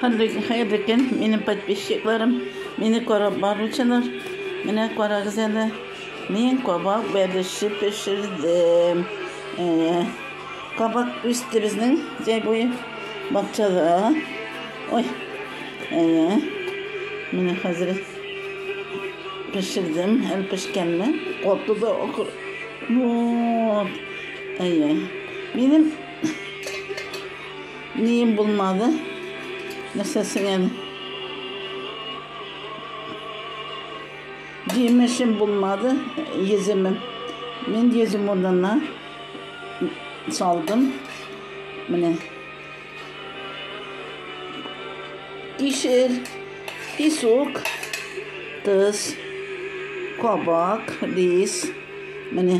Хәерле көн, хәерле көн, минем подписчикларым, мине карап баручылар. Менә карагыз әле, мин кабак бәлеше пешердем. Әйе, кабак үсте безнең җәй буе бакчада. Ой, әйе, менә хәзер пешердем, әле пешкәнме? Каты да акыр. Вот, әйе, минем Нием булмады. Нәрсәсең әле? Җимешем булмады, йөземем. Мин йөзем урынына салдым. Менә. Кишер, песок, тыз, кабак, рис. Менә.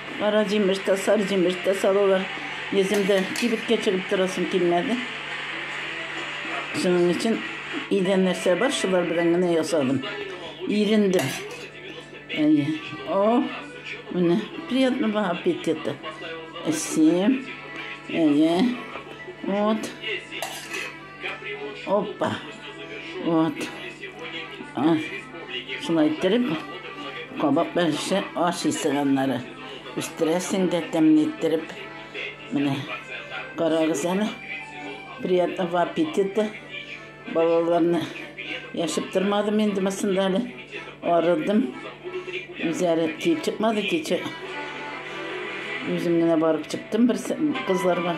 Кара җимеш тә, сары җимеш тә салалар. Йөземдә кибеткә чыгып торасым килмәде. Шуның өчен өйдә нәрсә бар, шулар белән генә ясадым. Ирендем. Әйе. О, менә приятного аппетита. Әсем. Әйе. Вот. Опа. Вот. А, шулай иттереп, кабак бәреше аш исе аннары. Үстерәсең дә тәмле иттереп. Менә карагыз әле. Приятного аппетита. Балаларны яшып тормадым инде мысында әле. Арыдым. Үзәре ки чыкмады кичә. Үзем генә барып чыктым бер кызларга.